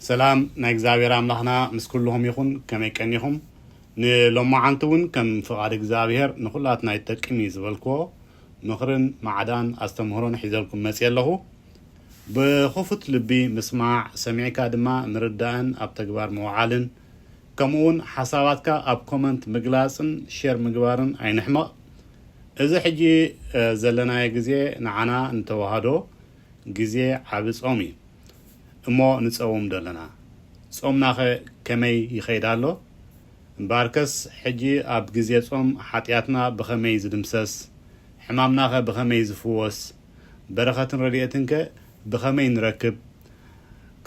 ሰላም ናይ እግዚኣብሔር ኣምላኽና ምስ ኩልኹም ይኹን ከመይ ቀኒኹም ንሎማዓንቲ እውን ከም ፍቃድ እግዚኣብሔር ንኹላትና ይጠቅም እዩ ዝበልክዎ ምኽርን ማዕዳን ኣስተምህሮን ሒዘልኩም መፅየ ኣለኹ ብኽፉት ልቢ ምስማዕ ሰሚዕካ ድማ ምርዳእን ኣብ ተግባር ምውዓልን ከምኡ እውን ሓሳባትካ ኣብ ኮመንት ምግላፅን ሼር ምግባርን ኣይንሕመቅ እዚ ሕጂ ዘለናዮ ግዜ ንዓና ንተዋህዶ ግዜ ዓቢ ጾም እዩ እሞ ንጸውም ደለና ጾምናኸ ከመይ ይኸይድ ኣሎ እምበኣርከስ ሕጂ ኣብ ግዜ ጾም ሓጥያትና ብኸመይ ዝድምሰስ ሕማምናኸ ብኸመይ ዝፍወስ በረኸትን ረድኤትንከ ብኸመይ ንረክብ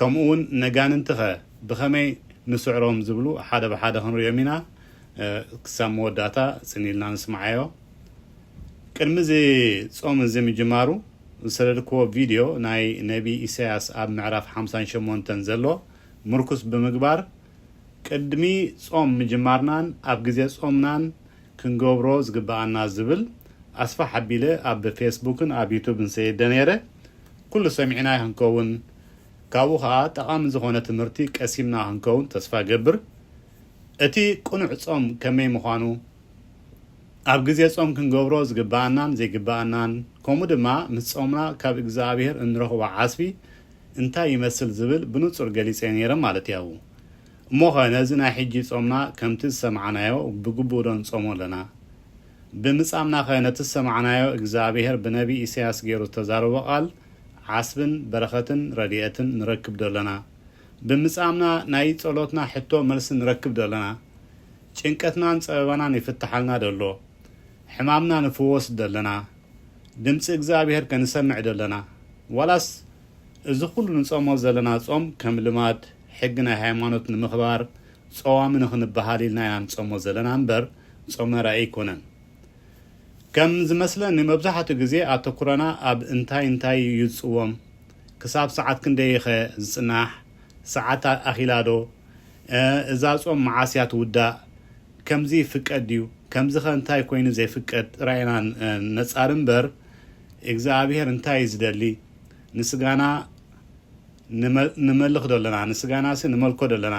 ከምኡውን ነጋንንቲኸ ብኸመይ ንስዕሮም ዝብሉ ሓደ ብሓደ ክንርእዮም ኢና ክሳብ መወዳእታ ጽን ኢልና ንስምዓዮ ቅድሚ እዚ ጾም እዚ ምጅማሩ ዝሰደድክዎ ቪድዮ ናይ ነቢይ ኢሳያስ ኣብ ምዕራፍ ሓምሳን ሸሞንተን ዘሎ ምርኩስ ብምግባር ቅድሚ ጾም ምጅማርናን ኣብ ግዜ ጾምናን ክንገብሮ ዝግብኣና ዝብል ኣስፋሕ ኣቢለ ኣብ ፌስቡክን ኣብ ዩቱብን ሰዲደ ነይረ ኩሉ ሰሚዕናዮ ክንከውን ካብኡ ከኣ ጠቓሚ ዝኾነ ትምህርቲ ቀሲምና ክንከውን ተስፋ እገብር እቲ ቅኑዕ ጾም ከመይ ምዃኑ ኣብ ግዜ ጾም ክንገብሮ ዝግብኣናን ዘይግብኣናን ከምኡ ድማ ምስ ጾምና ካብ እግዝኣብሄር እንረኽቦ ዓስቢ እንታይ ይመስል ዝብል ብንጹር ገሊጸ ነይረ ማለት እያው። እሞኸ ነዚ ናይ ሕጂ ጾምና ከምቲ ዝሰማዕናዮ ብግቡእዶ ንጾሞ ኣለና? ብምጻምናኸ ነቲ ዝሰማዕናዮ እግዝኣብሄር ብነብይ ኢሳያስ ገይሩ ዝተዛረቦ ቃል ዓስብን በረኸትን ረዲኤትን ንረክብዶ ኣለና? ብምጻምና ናይ ጸሎትና ሕቶ መልሲ ንረክብዶ ኣለና? ጭንቀትናን ጸበባናን ይፍታሓልና ዶ ኣሎ? ሕማምና ንፍወስ ዶ ኣለና? ድምጺ እግዚኣብሄር ከ ንሰምዕ ዶ ኣለና? ዋላስ እዚ ኩሉ ንጾሞ ዘለና ጾም ከም ልማድ ሕጊ ናይ ሃይማኖት ንምኽባር ጸዋሚ ንኽንበሃል ኢልና ኢና ንጾሞ ዘለና እምበር ጾመ ራኢ ኣይኮነን። ከም ዝመስለኒ መብዛሕትኡ ግዜ ኣተኩሮና ኣብ እንታይ እንታይ እዩ ዝጽወም? ክሳብ ሰዓት ክንደይ'ኸ ዝጽናሕ? ሰዓት ኣኺላ ዶ እዛ ጾም መዓስ እያ ትውዳእ ከምዚ ይፍቀድ ድዩ ከምዚኸ እንታይ ኮይኑ ዘይፍቀድ ጥራይ ኢና ነጻሪ እምበር እግዝኣብሄር እንታይ እዩ ዝደሊ ንስጋና ንመልኽ ዶ ኣለና ንስጋናሲ ንመልኮ ዶ ኣለና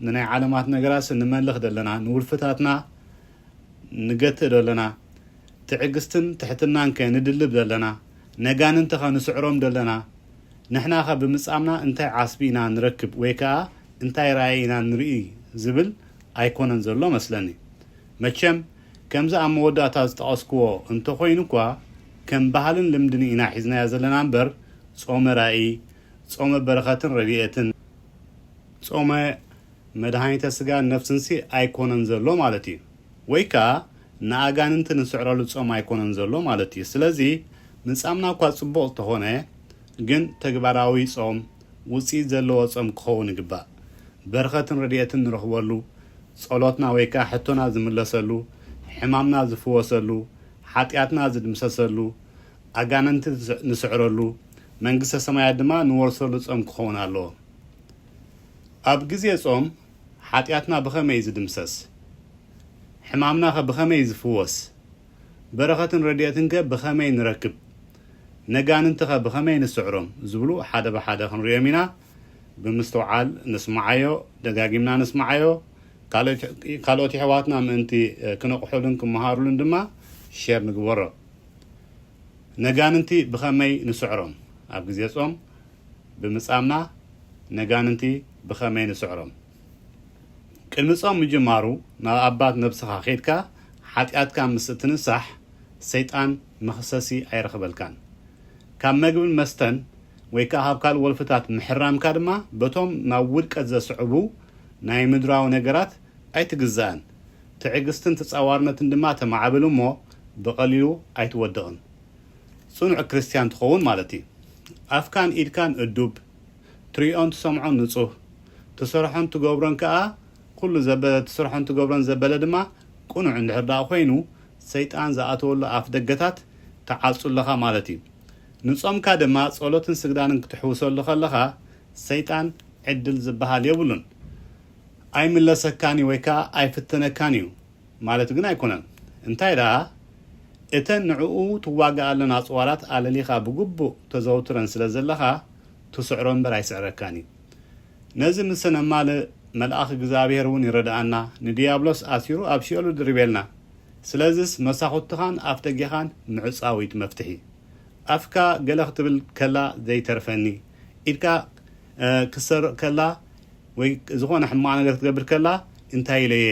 ንናይ ዓለማት ነገራሲ ንመልኽ ዶ ኣለና ንውልፍታትና ንገትእ ዶ ኣለና ትዕግስትን ትሕትናንከ ንድልብ ዶ ኣለና ነጋንንቲኸ ንስዕሮም ዶ ኣለና ንሕናኸ ብምጻምና እንታይ ዓስቢ ኢና ንረክብ ወይ ከኣ እንታይ ራኢ ኢና ንርኢ ዝብል ኣይኮነን ዘሎ መስለኒ። መቸም ከምዚ ኣብ መወዳእታ ዝጠቐስክዎ እንተኾይኑ'ኳ ከም ባህልን ልምድን ኢና ሒዝናዮ ዘለና እምበር ጾመ ራኢ፣ ጾመ በረኸትን ረድኤትን፣ ጾመ መድሃኒተ ስጋን ነፍስንሲ ኣይኮነን ዘሎ ማለት እዩ። ወይ ከኣ ንኣጋንንቲ ንስዕረሉ ጾም ኣይኮነን ዘሎ ማለት እዩ። ስለዚ ምጻምና እኳ ጽቡቕ እንተኾነ ግን ተግባራዊ ጾም፣ ውጽኢት ዘለዎ ጾም ክኸውን ይግባእ። በረኸትን ረድኤትን ንረኽበሉ፣ ጸሎትና ወይ ከኣ ሕቶና ዝምለሰሉ፣ ሕማምና ዝፍወሰሉ፣ ሓጢኣትና ዝድምሰሰሉ፣ ኣጋንንቲ ንስዕረሉ፣ መንግስተ ሰማያት ድማ ንወርሰሉ ጾም ክኸውን ኣለዎ። ኣብ ግዜ ጾም ሓጢኣትና ብኸመይ እዩ ዝድምሰስ? ሕማምናኸ ብኸመይ እዩ ዝፍወስ? በረኸትን ረድኤትንከ ብኸመይ ንረክብ? ነጋንንቲኸ ብኸመይ ንስዕሮም? ዝብሉ ሓደ ብሓደ ክንርእዮም ኢና። ብምስትውዓል ንስምዓዮ፣ ደጋጊምና ንስምዓዮ። ካልኦት የሕዋትና ምእንቲ ክነቕሑሉን ክመሃሩሉን ድማ ሼር ንግበሮ። ነጋንንቲ ብኸመይ ንስዕሮም? ኣብ ግዜ ጾም ብምጻምና ነጋንንቲ ብኸመይ ንስዕሮም? ቅድሚ ጾም ምጅማሩ ናብ ኣባት ነብስኻ ኬድካ ሓጢኣትካ ምስ እትንሳሕ ሰይጣን መኽሰሲ ኣይረኽበልካን። ካብ መግብን መስተን ወይ ከኣ ካብ ካልእ ወልፍታት ምሕራምካ ድማ በቶም ናብ ውድቀት ዘስዕቡ ናይ ምድራዊ ነገራት ኣይትግዛእን። ትዕግስትን ተጻዋርነትን ድማ ተማዕብል እሞ ብቐሊሉ ኣይትወድቕን። ጽኑዕ ክርስትያን ትኸውን ማለት እዩ። ኣፍካን ኢድካን እዱብ፣ ትርእዮን ትሰምዖን ንጹህ፣ ትሰርሖን ትገብሮን ከኣ ኩሉ ዘበለ ትሰርሖን ትገብሮን ዘበለ ድማ ቅኑዕ እንድሕር ደኣ ኮይኑ ሰይጣን ዝኣተወሉ ኣፍደገታት ትዓጹ ኣለኻ ማለት እዩ። ንጾምካ ድማ ጸሎትን ስግዳንን ክትሕውሰሉ ከለኻ ሰይጣን ዕድል ዝበሃል የብሉን። ኣይምለሰካን እዩ ወይ ከኣ ኣይፍትነካን እዩ። ማለት ግን ኣይኮነን እንታይ ደኣ እተን ንዕኡ ትዋገኣለን ኣጽዋራት ኣለሊኻ ብግቡእ ተዘውትረን ስለ ዘለኻ ትስዕሮ እምበር ኣይስዕረካን እዩ ነዚ ምሰ ነማልእ መልኣኽ እግዝኣብሄር እውን ይረድኣና ንድያብሎስ ኣሲሩ ኣብ ሲኦል እድርቤልና ስለዝስ መሳኹትኻን ኣፍደጌኻን ምዕጻው እዩቲ መፍትሒ ኣፍካ ገለ ክትብል ከላ ዘይተርፈኒ ኢድካ ክትሰርቕ ከላ ወይ ዝኾነ ሕማቕ ነገር ክትገብር ከላ እንታይ ኢለ'የ፣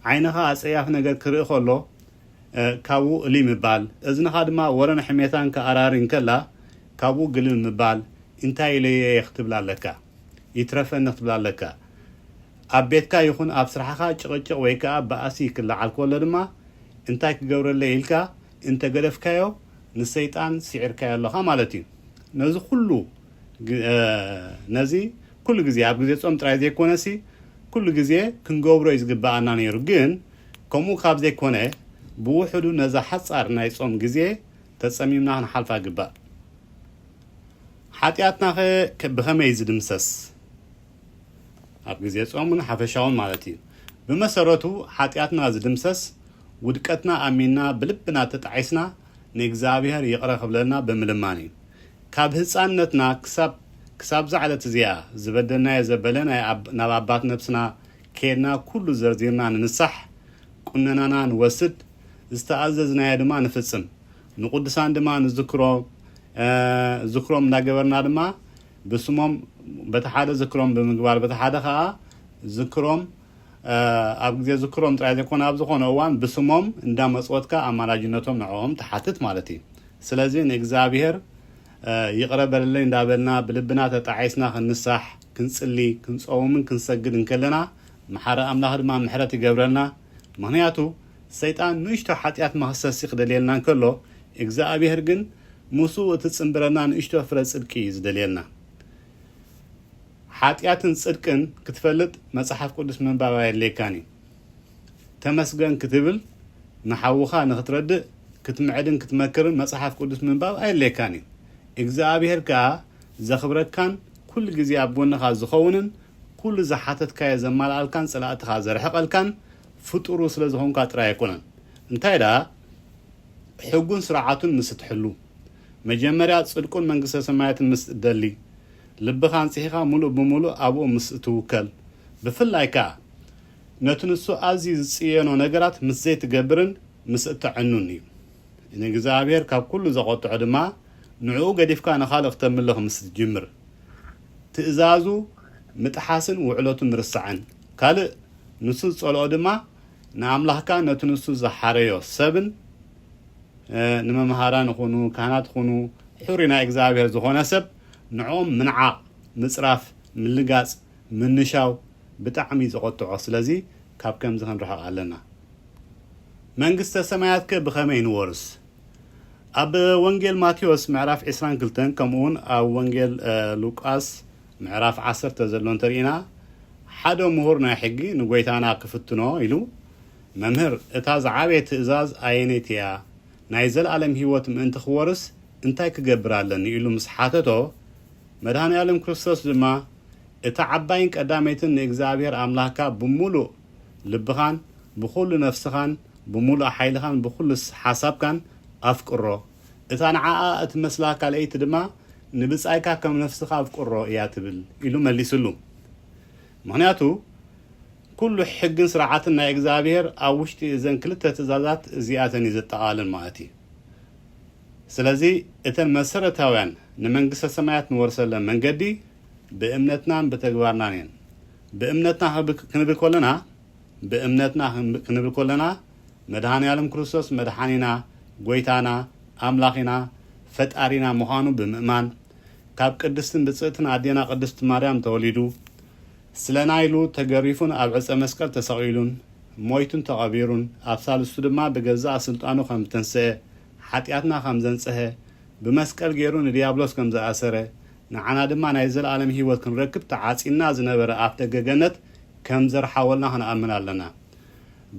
ዓይንኻ ኣጸያፊ ነገር ክርኢ ከሎ ካብኡ እልይ ምባል፣ እዝንኻ ድማ ወረን ሕሜታን ክኣራሪ እንከላ ካብኡ ግልል ምባል እንታይ ኢለ'የ ክትብል ኣለካ። ይትረፈኒ ክትብል ኣለካ። ኣብ ቤትካ ይኹን ኣብ ስራሕኻ ጭቕጭቕ ወይ ከኣ ባእሲ ክለዓል ከሎ ድማ እንታይ ክገብረለይ ኢልካ እንተገደፍካዮ ንሰይጣን ስዒርካዮ ኣለኻ ማለት'ዩ። ነዚ ኩሉ። ነዚ ኩሉ ግዜ ኣብ ግዜ ጾም ጥራይ ዘይኮነሲ ኩሉ ግዜ ክንገብሮ እዩ ዝግብኣና ነይሩ ግን ከምኡ ካብ ዘይኮነ ብውሕዱ ነዛ ሓጻር ናይ ጾም ግዜ ተጸሚምና ክንሓልፋ ይግባእ ሓጢኣትናኸ ብኸመይ እዩ ዝድምሰስ ኣብ ግዜ ጾምን ሓፈሻውን ማለት እዩ ብመሰረቱ ሓጢኣትና ዝድምሰስ ውድቀትና ኣሚንና ብልብና ተጣዒስና ንእግዚኣብሔር ይቕረ ክብለልና ብምልማን እዩ ካብ ህጻንነትና ክሳብ ክሳብ'ዛ ዕለት እዚኣ፣ ዝበደልናዮ ዘበለ ናይ ኣብ ናብ ኣባት ነብስና ኬድና ኩሉ ዘርዚርና ንንሳሕ፣ ቁነናና ንወስድ፣ ዝተኣዘዝናዮ ድማ ንፍጽም፣ ንቁዱሳን ድማ ንዝክሮ እ ዝክሮም እንዳገበርና ድማ ብስሞም በቲ ሓደ ዝክሮም ብምግባር በቲ ሓደ ከኣ ዝክሮም እ ኣብ ግዜ ዝክሮም ጥራይ ዘይኮነ ኣብ ዝኮነ እዋን ብስሞም እንዳመጽወትካ ኣማላጅነቶም ንዕኦም ትሓትት ማለት እዩ። ስለዚ ንእግዚኣብሔር ይቕረ በለለይ እንዳበልና ብልብና ተጣዒስና ክንሳሕ ክንጽሊ ክንጸውምን ክንሰግድ እንከለና መሓሪ ኣምላኽ ድማ ምሕረት ይገብረልና ምኽንያቱ ሰይጣን ንእሽቶ ሓጢኣት መኽሰሲ ክደልየልና እንከሎ እግዝኣብሔር ግን ምስኡ እትጽንብረና ንእሽቶ ፍረ ጽድቂ እዩ ዝደልየልና ሓጢኣትን ጽድቅን ክትፈልጥ መጽሓፍ ቅዱስ ምንባብ ኣየድልየካን እዩ። ተመስገን ክትብል ንሓውኻ ንኽትረድእ ክትምዕድን ክትመክርን መጽሓፍ ቅዱስ ምንባብ ኣየድልየካን እዩ። እግዝኣብሄር ከኣ ዘኽብረካን ኩሉ ግዜ ኣብ ጎንኻ ዝኸውንን ኩሉ ዝሓተትካዮ ዘማልኣልካን ጸላእትኻ ዘርሕቀልካን ፍጡሩ ስለ ዝኾንካ ጥራይ ኣይኮነን። እንታይ ደኣ ሕጉን ስርዓቱን ምስ እትሕሉ መጀመርያ ጽድቁን መንግስተ ሰማያትን ምስ እትደሊ ልብኻ ኣንጽሂኻ ምሉእ ብምሉእ ኣብኡ ምስ እትውከል ብፍላይ ከኣ ነቲ ንሱ ኣዝዩ ዝጽየኖ ነገራት ምስ ዘይትገብርን ምስ እተዕኑን እዩ። ንእግዚኣብሄር ካብ ኵሉ ዘቖጥዖ ድማ ንዕኡ ገዲፍካ ንኻልእ ክተምልኽ ምስ ትጅምር፣ ትእዛዙ ምጥሓስን ውዕለቱ ምርሳዕን፣ ካልእ ንሱ ዝጸልኦ ድማ ንኣምላኽካን ነቲ ንሱ ዝሓረዮ ሰብን፣ ንመምሃራን ይኹኑ ካህናት ይኹኑ ሕሩይ ናይ እግዚኣብሄር ዝዀነ ሰብ፣ ንዕኦም ምንዓቕ፣ ምጽራፍ፣ ምልጋጽ፣ ምንሻው ብጣዕሚ እዩ ዘቆጥዖ ስለዚ ካብ ከምዚ ክንርሕቅ ኣለና። መንግስተ ሰማያት ከ ብኸመይ ንወርስ? ኣብ ወንጌል ማቴዎስ ምዕራፍ ዕስራን ክልተን ከምኡውን ኣብ ወንጌል ሉቃስ ምዕራፍ ዓሰርተ ዘሎ እንተ ርኢና ሓደ ምሁር ናይ ሕጊ ንጎይታና ክፍትኖ ኢሉ መምህር እታ ዝዓበየት ትእዛዝ ኣየነይቲ እያ ናይ ዘለኣለም ሕይወት ምእንቲ ክወርስ እንታይ ክገብር ኣለኒ ኢሉ ምስ ሓተቶ መድኃኔ ዓለም ክርስቶስ ድማ እታ ዓባይን ቀዳመይትን ንእግዚኣብሄር ኣምላኽካ ብምሉእ ልብኻን ብዅሉ ነፍስኻን ብምሉእ ሓይልኻን ብዅሉ ሓሳብካን ኣፍቅሮ፣ እታ ንዓኣ እትመስላ ካልኣይቲ ድማ ንብጻይካ ከም ነፍስኻ ኣፍቅሮ እያ ትብል ኢሉ መሊስሉ። ምኽንያቱ ኵሉ ሕግን ስርዓትን ናይ እግዚኣብሄር ኣብ ውሽጢ እዘን ክልተ ትእዛዛት እዚኣተን እዩ ዘጠቓልል ማለት እዩ። ስለዚ እተን መሰረታውያን ንመንግስተ ሰማያት ንወርሰለን መንገዲ ብእምነትናን ብተግባርናን እየን። ብእምነትና ክንብል ከሎና ብእምነትና ክንብል ከሎና መድሃኒኣለም ክርስቶስ መድሓኒና ጎይታና ኣምላኺና ፈጣሪና ምዃኑ ብምእማን ካብ ቅድስትን ብጽእትን ኣዴና ቅድስት ማርያም ተወሊዱ ስለና ኢሉ ተገሪፉን ኣብ ዕጸ መስቀል ተሰቒሉን ሞይቱን ተቐቢሩን ኣብ ሳልስቱ ድማ ብገዛእ ስልጣኑ ከም ዝተንስኤ ሓጢኣትና ከም ዘንጽሀ፣ ብመስቀል ገይሩ ንድያብሎስ ከም ዝኣሰረ፣ ንዓና ድማ ናይ ዘለኣለም ህይወት ክንረክብ ተዓጽዩና ዝነበረ ኣፍደገ ገነት ከም ዘርሓወልና ክንኣምን ኣለና።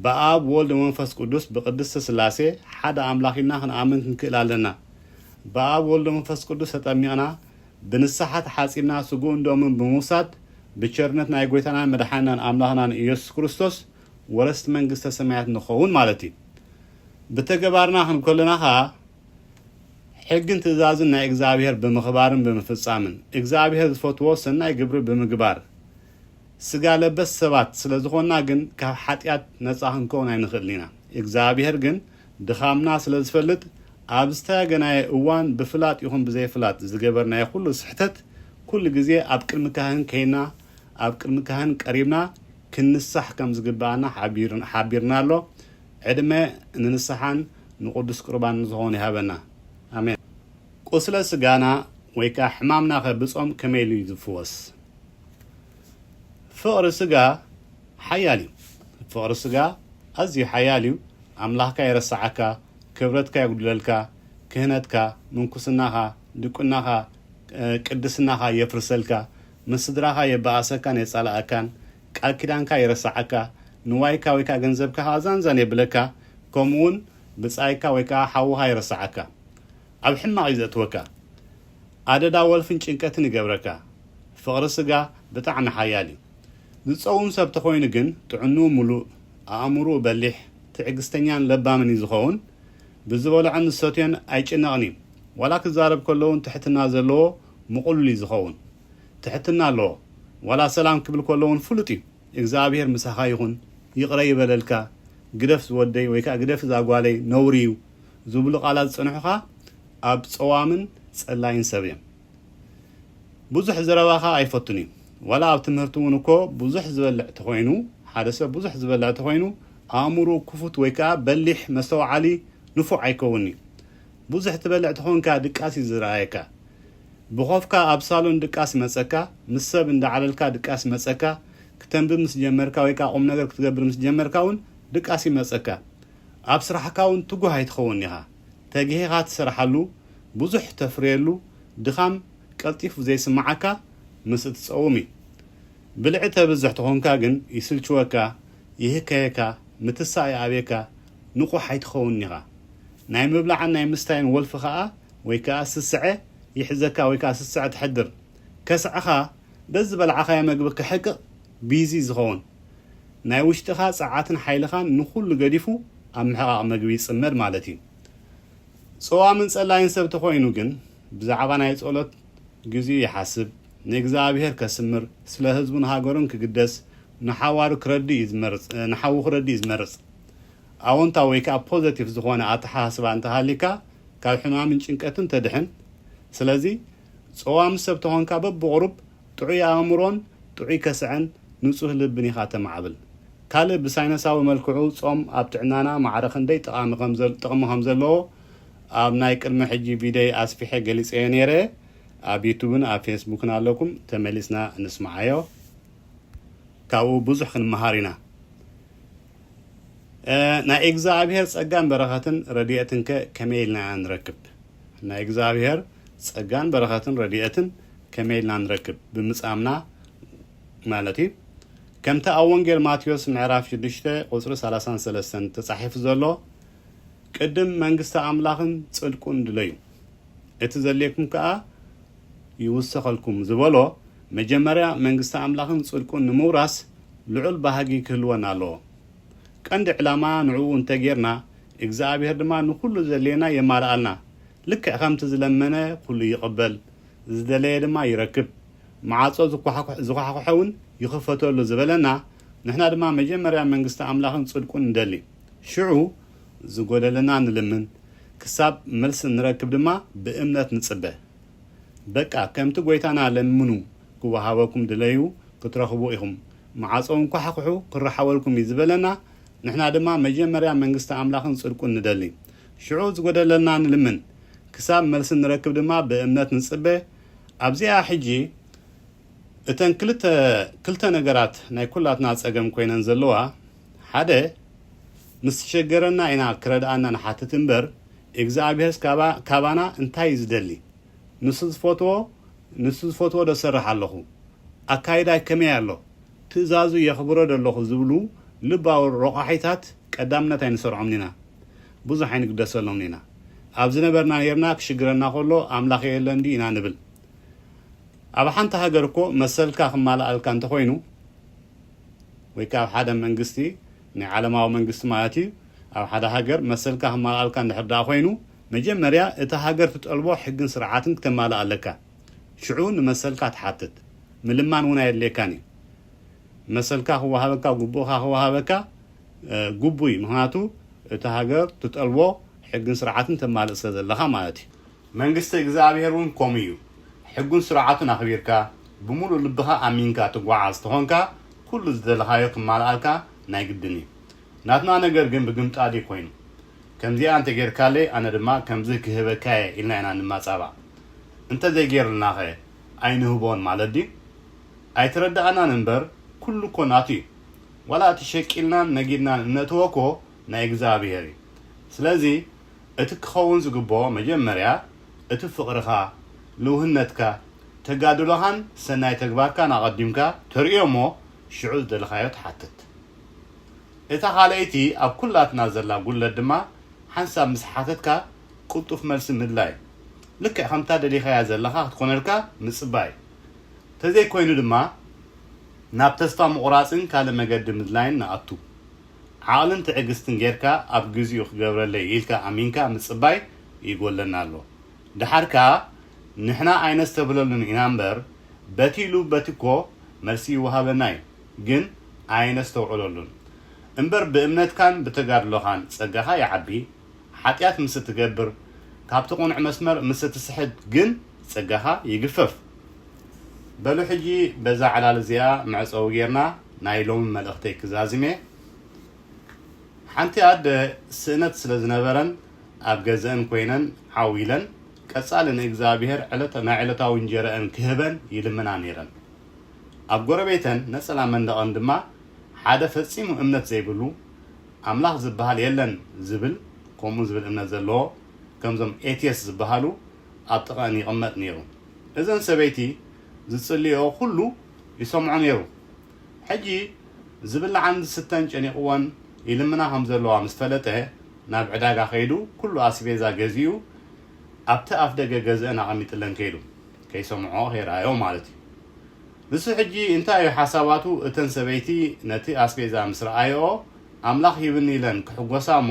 ብኣብ፣ ወልድ፣ ወመንፈስ ቅዱስ፣ ብቅድስት ስላሴ፣ ሓደ ኣምላኽ ኢልና ክንኣምን ክንክእል ኣለና። ብኣብ፣ ወልድ፣ ወመንፈስ ቅዱስ ተጠሚቕና ብንስሓ ተሓጺብና ስግኡን ደሙን ብምውሳድ ብቸርነት ናይ ጎይታናን መድሓኒናን ኣምላኽናን ኢየሱስ ክርስቶስ ወረስቲ መንግስተ ሰማያት ንኸውን ማለት እዩ። ብተገባርና ክንኮለና ከኣ ሕግን ትእዛዝን ናይ እግዝኣብሄር ብምኽባርን ብምፍጻምን፣ እግዝኣብሄር ዝፈትዎ ሰናይ ግብሪ ብምግባር፣ ስጋ ለበስ ሰባት ስለ ዝኾንና ግን ካብ ሓጢኣት ነጻ ክንከውን ኣይንኽእልን ኢና። እግዝኣብሄር ግን ድኻምና ስለ ዝፈልጥ ኣብ ዝተያገናዮ እዋን ብፍላጥ ይኹን ብዘይፍላጥ ዝገበርናዮ ኩሉ ስሕተት ኩሉ ግዜ ኣብ ቅድሚ ካህን ከይና ኣብ ቅድሚ ካህን ቀሪብና ክንሳሕ ከም ዝግብኣና ሓቢርና ኣሎ። ዕድመ ንንስሓን ንቅዱስ ቁርባንን ዝኾኑ ይሃበና። ኣሜን። ቁስለ ስጋና ወይ ከኣ ሕማምናኸ ብጾም ከመይ ኢሉ እዩ ዝፍወስ? ፍቕሪ ስጋ ሓያል እዩ። ፍቕሪ ስጋ ኣዝዩ ሓያል እዩ። ኣምላኽካ የረስዓካ፣ ክብረትካ የጉድለልካ፣ ክህነትካ፣ ምንኩስናኻ፣ ድቁናኻ፣ ቅድስናኻ የፍርሰልካ፣ ምስ ስድራኻ የባኣሰካን የጻላኣካን ቃል ኪዳንካ የረሳዓካ ንዋይካ ወይ ከኣ ገንዘብካ ከኣ ዛን ዛን የብለካ ከምኡ ውን ብጻይካ ወይ ከኣ ሓውኻ የረሳዓካ ኣብ ሕማቕ እዩ ዘእትወካ ኣደዳ ወልፍን ጭንቀትን ይገብረካ ፍቕሪ ስጋ ብጣዕሚ ሓያል እዩ ዝጸውም ሰብ ተኾይኑ ግን ጥዕንኡ ምሉእ ኣእምርኡ በሊሕ ትዕግስተኛን ለባምን እዩ ዝኸውን ብዝበልዖን ዝሰትዮን ኣይጭነቕን እዩ ዋላ ክዛረብ ከሎ ውን ትሕትና ዘለዎ ምቑሉል እዩ ዝኸውን ትሕትና ኣለዎ ዋላ ሰላም ክብል ኮሎ ውን ፍሉጥ እዩ እግዝኣብሄር ምሳኻ ይኹን ይቕረ ይበለልካ ግደፍ ዝወደይ ወይ ከኣ ግደፊ እዛ ጓለይ ነውሪ እዩ ዝብሉ ቃላት ዝጸንሑኻ ኣብ ጸዋምን ጸላይን ሰብ እዮም ብዙሕ ዝረባኻ ኣይፈቱን እዩ ዋላ ኣብ ትምህርቲ ውን እኮ ብዙሕ ዝበልዕ ተኾይኑ ሓደ ሰብ ብዙሕ ዝበልዕ ተኾይኑ ኣእምርኡ ክፉት ወይ ከኣ በሊሕ መስተውዓሊ ንፉዕ ኣይከውንን'ዩ ቡዙሕ ትበልዕ ተኾንካ ድቃስ እዩ ዝርኣየካ ብኾፍካ ኣብ ሳሎን ድቃስ መጸካ ምስ ሰብ እንዳዓለልካ ድቃስ መጸካ ክተንብብ ምስ ጀመርካ ወይ ከኣ ቁምነገር ክትገብር ምስ ጀመርካ ውን ድቃስ ይመጸካ ኣብ ስራሕካ ውን ትጉህ ኣይትኸውንን ኢኻ ተጊሂኻ ትሰርሓሉ ቡዙሕ ተፍርየሉ ድኻም ቀልጢፉ ዘይስምዓካ ምስ እትጸውም እዩ ብልዒ ተብዝሕ ተኾንካ ግን ይስልችወካ ይህከየካ ምትሳእ ይኣብየካ ንቑሕ ኣይትኸውንን ኢኻ። ናይ ምብላዕን ናይ ምስታይን ወልፊ ከኣ ወይ ከኣ ስስዐ ይሕዘካ ወይ ከኣ ስስዐ ተሕድር። ከስዐኻ በዝበላዕኻዮ መግቢ ክሕቅቕ ቢዚ ዝኸውን። ናይ ውሽጥኻ ጸዓትን ሓይልኻን ንኹሉ ገዲፉ ኣብ ምሕቓቕ መግቢ ይጽመድ ማለት እዩ። ጸዋምን ጸላይን ሰብ ተኾይኑ ግን ብዛዕባ ናይ ጸሎት፣ ግዚኡ ይሓስብ፣ ንእግዝኣብሄር ከስምር፣ ስለ ህዝቡን ሃገሩን ክግደስ፣ ንሓዋሩ ክረድእ እዩ ዝመርጽ፣ ንሓዉ ክረድእ እዩ ዝመርጽ። ኣወንታዊ ወይ ከኣ ፖዘቲቭ ዝኾነ ኣተሓሳስባ እንተሃልይካ ካብ ሕማምን ጭንቀትን ተድሕን። ስለዚ ጸዋም ሰብ ተኾንካ በብቑሩብ ጥዑይ ኣእምሮን ጥዑይ ከስዐን ንጹህ ልብን ኢኻ ተማዕብል። ካልእ ብሳይነሳዊ መልክዑ ጾም ኣብ ጥዕናና ማዕረ ክንደይ ጠቓሚ ከም ጥቕሚ ከም ዘለዎ ኣብ ናይ ቅድሚ ሕጂ ቪደይ ኣስፊሐ ገሊጸዮ ኔረ ኣብ ዩቱብን ኣብ ፌስቡክን ኣለኩም ተመሊስና ንስምዓዮ ካብኡ ብዙሕ ክንመሃር ኢና ናይ እግዝኣብሄር ጸጋን በረኸትን ረድኤትን ከ ከመይ ኢልና ኢና ንረክብ ናይ እግዝኣብሄር ጸጋን በረኸትን ረድኤትን ከመይ ኢልና ንረክብ ብምጻምና ማለት እዩ ከምቲ ኣብ ወንጌል ማቴዎስ ምዕራፍ 6 ቁጽሪ 33 ተጻሒፉ ዘሎ ቅድም መንግስቲ ኣምላኽን ጽድቁን ድለዩ፣ እቲ ዘድልየኩም ከኣ ይውሰኸልኩም ዝበሎ፣ መጀመርያ መንግስቲ ኣምላኽን ጽድቁን ንምውራስ ልዑል ባህጊ ክህልወና ኣለዎ። ቀንዲ ዕላማ ንዕኡ እንተ ጌርና፣ እግዝኣብሄር ድማ ንኹሉ ዘድልየና የማልኣልና። ልክዕ ከምቲ ዝለመነ ኩሉ ይቕበል፣ ዝደለየ ድማ ይረክብ፣ መዓጾ ዝኳሕኩሐ ውን ይኽፈተሉ ዝበለና፣ ንሕና ድማ መጀመርያ መንግስቲ ኣምላኽን ጽድቁን ንደሊ። ሽዑ ዝጎደለና ንልምን ክሳብ መልሲ ንረክብ ድማ ብእምነት ንጽበ በቃ ከምቲ ጎይታና ለምኑ ክወሃበኩም ድለዩ ክትረኽቡ ኢኹም መዓጾ እንኳሕዂሑ ክረሓወልኩም እዩ ዝበለና ንሕና ድማ መጀመርያ መንግስቲ ኣምላኽን ጽድቁን ንደሊ ሽዑ ዝጎደለና ንልምን ክሳብ መልሲ ንረክብ ድማ ብእምነት ንጽበ ኣብዚኣ ሕጂ እተን ክልተ ክልተ ነገራት ናይ ኩላትና ጸገም ኮይነን ዘለዋ ሓደ ምስ ተሸገረና ኢና ክረድኣና ንሓትት እምበር እግዝኣብሄርስ ካባ ካባና እንታይ እዩ ዝደሊ ንሱ ዝፈትዎ ንሱ ዝፈትዎ ዶ እሰርሕ ኣለኹ ኣካይዳይ ከመይ ኣሎ ትእዛዙ የኽብሮ ዶ ኣለኹ ዝብሉ ልባዊ ሮቛሒታት ቀዳምነት ኣይንሰርዖምን ኢና ብዙሕ ኣይንግደሰሎምን ኢና ኣብ ዝነበርና ኔርና ክሽግረና ከሎ ኣምላኽ የለን ድዩ ኢና ንብል ኣብ ሓንቲ ሃገር እኮ መሰልካ ክማልኣልካ እንተኾይኑ ወይ ከኣ ኣብ ሓደ መንግስቲ፣ ናይ ዓለማዊ መንግስቲ ማለት እዩ፣ ኣብ ሓደ ሃገር መሰልካ ክማልኣልካ እንድሕር ደኣ ኮይኑ፣ መጀመርያ እታ ሃገር ትጠልቦ ሕግን ስርዓትን ክተማልእ ኣለካ። ሽዑ ንመሰልካ ትሓትት። ምልማን እውን ኣየድልየካን እዩ። መሰልካ ክወሃበካ፣ ግቡእካ ክወሃበካ ግቡእ እዩ፣ ምኽንያቱ እታ ሃገር ትጠልቦ ሕግን ስርዓትን ተማልእ ስለ ዘለኻ ማለት እዩ። መንግስቲ እግዝኣብሄር እውን ከምኡ እዩ። ሕጉን ስርዓቱን ኣኽቢርካ፣ ብምሉእ ልብኻ ኣሚንካ ትጓዓዝ ተኾንካ ኩሉ ዝደለኻዮ ክማልኣልካ ናይ ግድን እዩ። ናትና ነገር ግን ብግምጣል እዩ ኮይኑ። ከምዚኣ እንተ ጌርካለይ ኣነ ድማ ከምዚ ክህበካ እየ ኢልና ኢና ንማጻባዕ። እንተ ዘይጌርልናኸ ኣይንህቦን ማለት ድዩ? ኣይተረድኣናን እምበር ኩሉ እኮ ናቱ እዩ። ዋላ እቲ ሸቂልናን ነጊድናን እነእትዎ እኮ ናይ እግዝኣብሄር እዩ። ስለዚ እቲ ክኸውን ዝግበኦ መጀመርያ እቲ ፍቕርኻ፣ ልውህነትካ፣ ተጋድሎኻን ሰናይ ተግባርካን ኣቐዲምካ ተርእዮ እሞ ሽዑ ዝደለኻዮ ትሓትት። እታ ካልኣይቲ ኣብ ኩላትና ዘላ ጉድለት ድማ ሓንሳብ ምስ ሓተትካ ቅልጡፍ መልሲ ምድላይ፣ ልክዕ ከምታ ደሊኻያ ዘለኻ ክትኮነልካ ምጽባይ፣ ተዘይኮይኑ ድማ ናብ ተስፋ ምቑራጽን ካልእ መገዲ ምድላይን ንኣቱ። ዓቕልን ትዕግስትን ጌርካ ኣብ ግዚኡ ክገብረለይ ኢልካ ኣሚንካ ምጽባይ ይጎለና ኣሎ ደሓር ከኣ ንሕና ኣይነስተብህለሉን ኢና እምበር በቲ ኢሉ በቲ እኮ መልሲ ይወሃበና እዩ ግን ኣየነስተውዕለሉን እምበር ብእምነትካን ብተጋድሎኻን ጸጋኻ ይዓቢ ሓጥያት ምስ እትገብር ካብቲ ቁኑዕ መስመር ምስ እትስሕት ግን ጸጋኻ ይግፈፍ በሉ ሕጂ በዛ ዕላል እዚኣ መዕጸዊ ጌርና ናይ ሎሚ መልእኽተይ ክዛዝም እየ። ሓንቲ ኣደ ስእነት ስለ ዝነበረን ኣብ ገዘእን ኮይነን ዓው ኢለን ቀጻሊ ንእግዝኣብሄር ዕለተ ናይ ዕለታዊ እንጀረእን ክህበን ይልምና ነይረን። ኣብ ጎረቤተን ነጸላ መንደቐን ድማ ሓደ ፈጺሙ እምነት ዘይብሉ ኣምላኽ ዝበሃል የለን ዝብል ከምኡ ዝብል እምነት ዘለዎ ከምዞም ኤትየስት ዝበሃሉ ኣብ ጥቐእን ይቕመጥ ነይሩ። እዘን ሰበይቲ ዝጽልይኦ ኩሉ ይሰምዖ ነይሩ። ሕጂ ዝብላዕን ዝስተን ጨኒቕወን ይልምና ከም ዘለዋ ምስ ፈለጠ፣ ናብ ዕዳጋ ከይዱ ኩሉ ኣስቤዛ ገዚኡ ኣብቲ ኣፍደገ ገዝእን ኣቐሚጥለን ከይዱ። ከይሰምዕኦ ከይረኣይኦ ማለት እዩ። ንሱ ሕጂ እንታይ እዩ ሓሳባቱ እተን ሰበይቲ ነቲ ኣስቤዛ ምስ ረኣይኦ ኣምላኽ ሂብኒ ኢለን ክሕጎሳ እሞ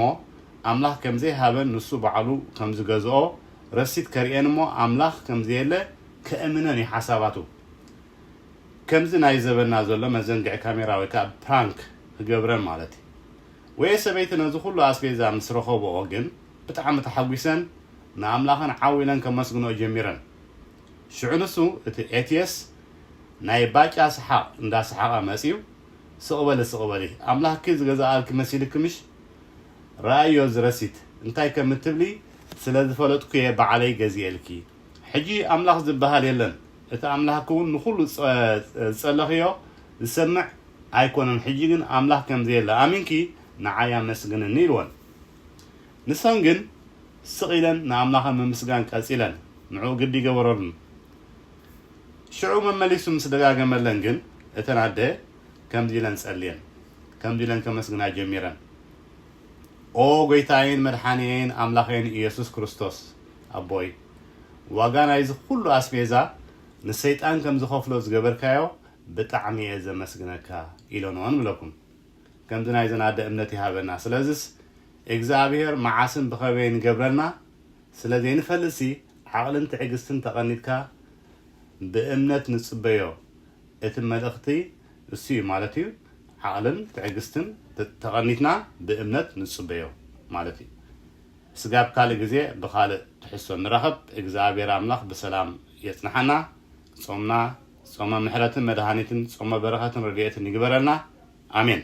ኣምላኽ ከም ዘይሃበን ንሱ ባዕሉ ከም ዝገዝኦ ረሲት ከርእየን እሞ ኣምላኽ ከም ዘየለ ከእምነን እዩ ሓሳባቱ። ከምዚ ናይ ዘበና ዘሎ መዘንግዒ ካሜራ ወይ ከኣ ፕራንክ ክገብረን ማለት እዩ። ወየ ሰበይቲ ነዚ ኩሉ ኣስቤዛ ምስ ረኸብኦ ግን ብጣዕሚ ተሓጒሰን ንኣምላኸን ዓው ኢለን ከመስግንኦ ጀሚረን። ሽዑ ንሱ እቲ ኤትየስ ናይ ባጫ ሰሓቕ እንዳ ሰሓቐ መጺኡ ስቕ በሊ ስቕ በሊ ኣምላኽኪ ዝገዛኣልኪ መሲልኪ ምሽ ረኣይዮ እዚ ረሲት እንታይ ከም እትብሊ ስለ ዝፈለጥኩ'የ ባዕለይ ገዚኤልኪ ሕጂ ኣምላኽ ዝብሃል የለን እቲ ኣምላኽኪ ውን ንኩሉ ዝጸለኽዮ ዝሰምዕ ኣይኮነን ሕጂ ግን ኣምላኽ ከምዘየለ ኣሚንኪ ንዓይ ኣመስግንኒ ኢልወን ንሰን ግን ስቅ ኢለን ንኣምላኸን ምምስጋን ቀጺለን ንዕኡ ግዲ ገበረሉን ሽዑ መመሊሱ ምስ ደጋገመለን ግን እተን ኣደ ከምዚ ኢለን ጸልየን ከምዚ ኢለን ከመስግና ጀሚረን ኦጎይታየይን መድሓንየይን ኣምላኸይን ኢየሱስ ክርስቶስ ኣቦይ ዋጋ ናይዚ ኩሉ ኣስቤዛ ንሰይጣን ከም ዝኸፍሎ ዝገበርካዮ ብጣዕሚ እየ ዘመስግነካ ኢሎ ን ንብለኩም ከምዚ ናይዘን ኣደ እምነት ይሃበና ስለዝስ እግዝኣብሄር መዓስን ብኸበይን ይገብረልና ስለ ዘይንፈልጥሲ ዓቕልን ትዕግስትን ተቐኒትካ ብእምነት ንጽበዮ እቲ መልእኽቲ እሱ እዩ ማለት እዩ ዓቕልን ትዕግስትን ተቐኒትና ብእምነት ንጽበዮ ማለት እዩ። ስጋብ ካልእ ግዜ ብካልእ ትሕዝቶ ንራኸብ እግዝኣብሄር ኣምላኽ ብሰላም የጽንሓና ጾምና ጾመ ምሕረትን መድሃኒትን ጾመ በረኸትን ረድኤትን ይግበረልና ኣሜን።